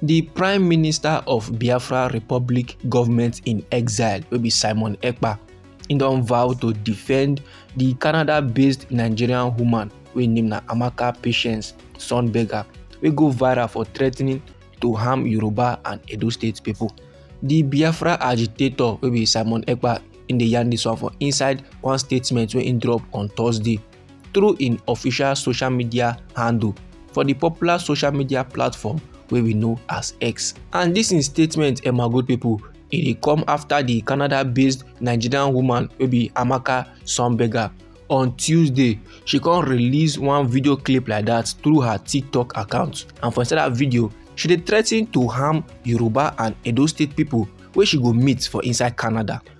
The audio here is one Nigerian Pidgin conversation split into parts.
di prime minister of biafra republic government in exile wey be simon ekpa im don vow to defend di canada-based nigerian woman wey name na amaka patience sunberger wey go viral for threatening to harm yoruba and edo state pipo di biafra agitator wey be simon ekpa im dey yarn dis one for inside one statement wey im drop on thursday. through im official social media handle for di popular social media platform wey we know as x and dis im statement eh my good pipo e dey come afta di canada based nigerian woman wey be amaka sunberger on tuesday she come release one video clip like that through her tiktok account and for inside that video she dey threaten to harm yoruba and edo state people wey she go meet for inside canada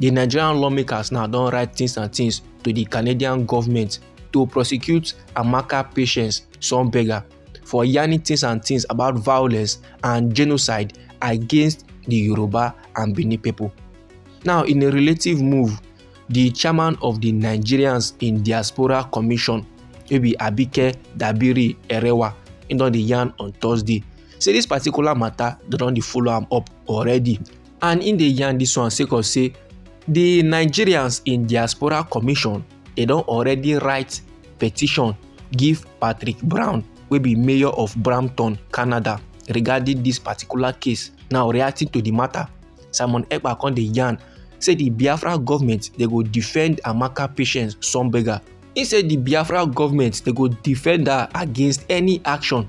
di nigerian lawmakers now don write tins and tins to di canadian goment to prosecute amaka patience sonberger for yarning tins and tins about violence and genocide against di yoruba and benin pipo now in a relative move di chairman of di nigerians in diaspora commission wey be abike dabiri erewa im don dey yarn on thursday say dis particular mata dem don dey follow am up already and im dey yarn dis one sake of say di nigerians in diaspora commission dey don already write petition give patrick brown wey be mayor of brampton canada regarding dis particular case now reacting to di matter simon ekpa come dey yarn say di biafra government dey go defend amaka patience sunberger e say di biafra government dey go defend her against any action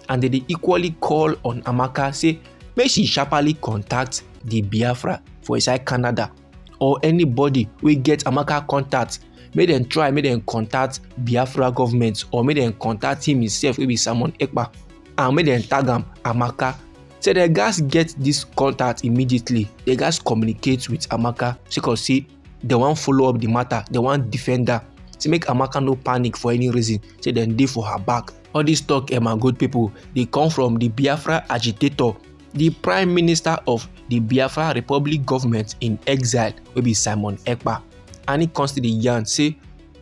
and dem dey equally call on amaka say make she sharply contact di biafra for inside canada or anybody wey get amaka contact make dem try make dem contact biafra government or make dem contact him himself wey be simon ekpa and make dem tag am amaka say dem gatz get dis contact immediately dem gatz communicate with amaka sake of say they wan follow up the matter they wan defend her say make amaka no panic for any reason say dem dey for her back all this talk emma eh, good people dey come from the biafra agitator the prime minister of the biafra republic government in exile wey be simon ekpa and he come still dey yarn say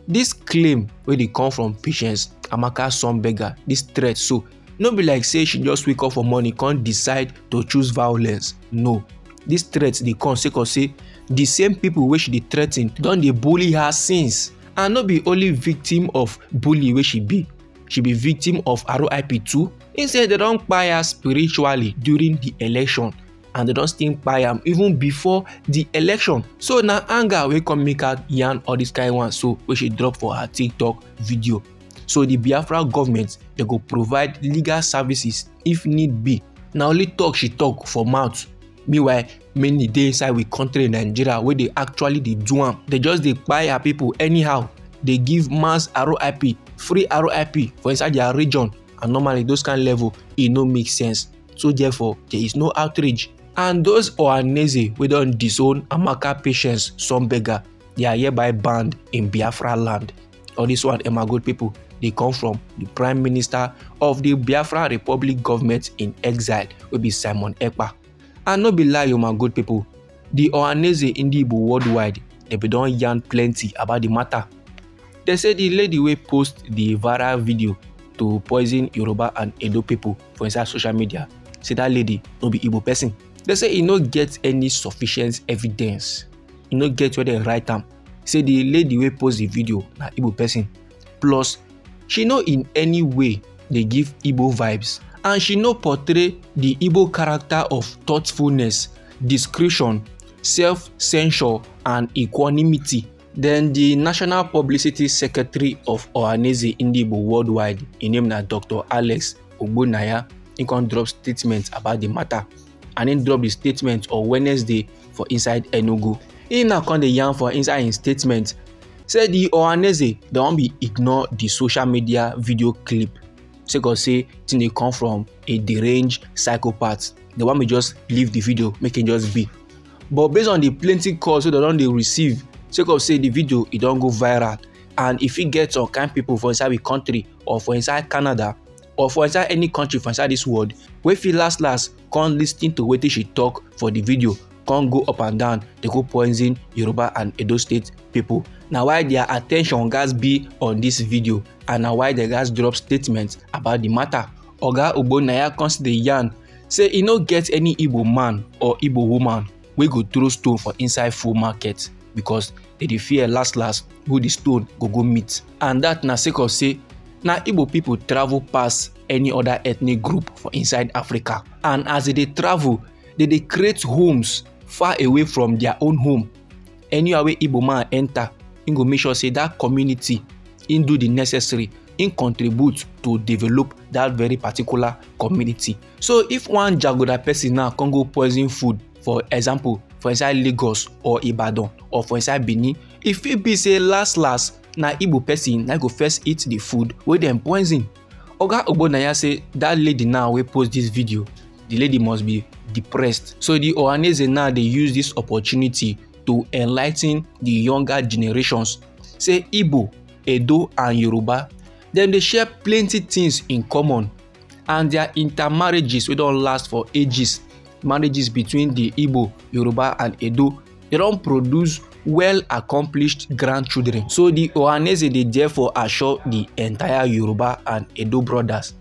this claim wey dey come from patience amaka son beggar this threat so no be like say she just wake up for morning come decide to choose violence no dis threat dey come sake of say di same pipo wey she dey threaten don dey bully her since and no be only victim of bully wey she be she be victim of rip too im say dem don kpai her spiritually during di election and dem don still kpai am even before di election so na anger wey come make her yarn all dis kain one so wey she drop for her tiktok video. so di biafra goment dem go provide legal services if need be na only talk she talk for mouth meanwhile many dey inside we kontri nigeria wey dey actually dey do am dey just dey kpai her pipo anyhow dey give mass rip free rip for inside dia region and normally those kain level e no make sense so therefore there is no outrage and those ohaneze wey don disown amaka patience some beggar they are hereby banned in biafra land or this one Emma Gold people, they come from the Prime Minister of the Biafra Republic government in exile, will be Simon Ekpa. And no be lie, you my good people, the Ohaneze Indibo worldwide, they be don yarn plenty about the matter. They say the lady will post the viral video to poison Yoruba and Edo people for inside social media. Say that lady no be Igbo person. They say e no get any sufficient evidence. E no get where they write am say the lady wey post the video na igbo person plus she no in any way dey give igbo vibes and she no portray the igbo character of thoughtfulness discretion self-censure and equanimity then the national publicity secretary of ohaneze ndigbo worldwide im name na dr alex ogbonnaya he come drop statement about the matter. and im drop di statement on wednesday for inside enugu im now come dey yarn for inside im statement say di ohaneze don be ignore di social media video clip sake of say tin dey come from a deranged psychopath dem wan me just leave di video make e just be but based on di plenty calls wey dem don dey receive sake of say di video e don go viral and e fit get some kain pipo for inside di kontri or for inside canada or for inside any country for inside this world wey fit last last come lis ten to wetin she talk for the video come go up and down dey go poison yoruba and edo state people na why their attention gats be on this video and na why dem gats drop statement about the matter oga ogbonnaya come still dey yarn say e no get any igbo man or igbo woman wey go throw stone for inside full market because they dey fear last last who the stone go go meet and that na sake of say na igbo people travel pass any other ethnic group for inside africa and as they dey travel they dey create homes far away from their own home anywhere wey igbo man enter he go make sure say that community he do the necessary he contribute to develop that very particular community so if one jagoda person now come go poison food for example for inside lagos or ibadan or for inside benin e fit be say last last na igbo person na go first eat the food wey dem poison oga ogbonaya say that lady now wey post this video the lady must be depressed so the ohaneze now dey use this opportunity to enlighten the younger generations say igbo edo and yoruba dem dey share plenty things in common and their intermarriages wey don last for ages marriages between the igbo yoruba and edo they don produce well accomplished grandchildren so the ohaneze dey therefore assure the entire yoruba and edo brothers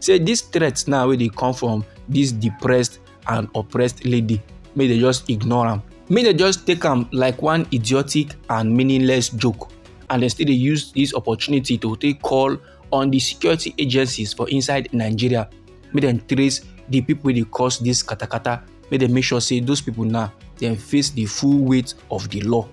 say this threat now wey dey come from this depressed and oppressed lady make they just ignore am make they just take am like one idiotic and meaningless joke and they still dey use this opportunity to take call on di security agencies for inside nigeria make dem trace di pipo wey dey cause dis katakata make dem make sure say those pipo now dem face di full weight of di law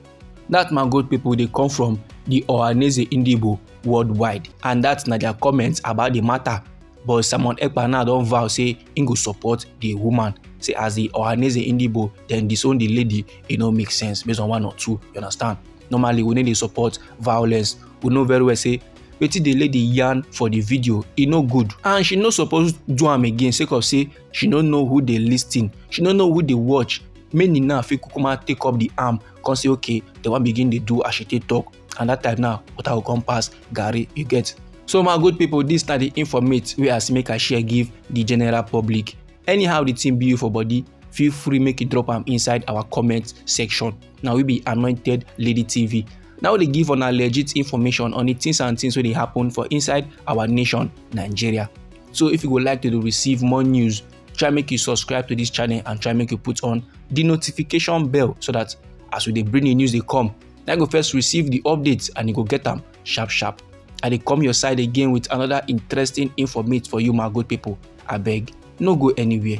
dat man good pipo dey come from di ohaneze indibo worldwide and dat na dia comment about di matter but simon ekpa now don vow say im go support di woman say as di ohaneze indibo dem disown di lady e no make sense based on one or two you understand normally we no dey support violence we know very well say wetin the lady yarn for the video e no good and she no suppose do am again sake of say she no know who dey lis ten she no know who dey watch many now fit kukuma take up the arm come say okay dem wan begin dey do as she take talk and that time now water go come pass garri you get so my good people this na the informate wey i see make i share give the general public anyhow the thing be you for body feel free make you drop am inside our comment section na we be anointed lady tv na we dey give una legit information on the things and things wey dey happen for inside our nation nigeria so if you go like to dey receive more news try make you subscribe to this channel and try make you put on the notification bell so that as we dey bring the news dey come na you go first receive the updates and you go get am sharp sharp i dey come your side again with another interesting informate for you my good people abeg no go anywhere.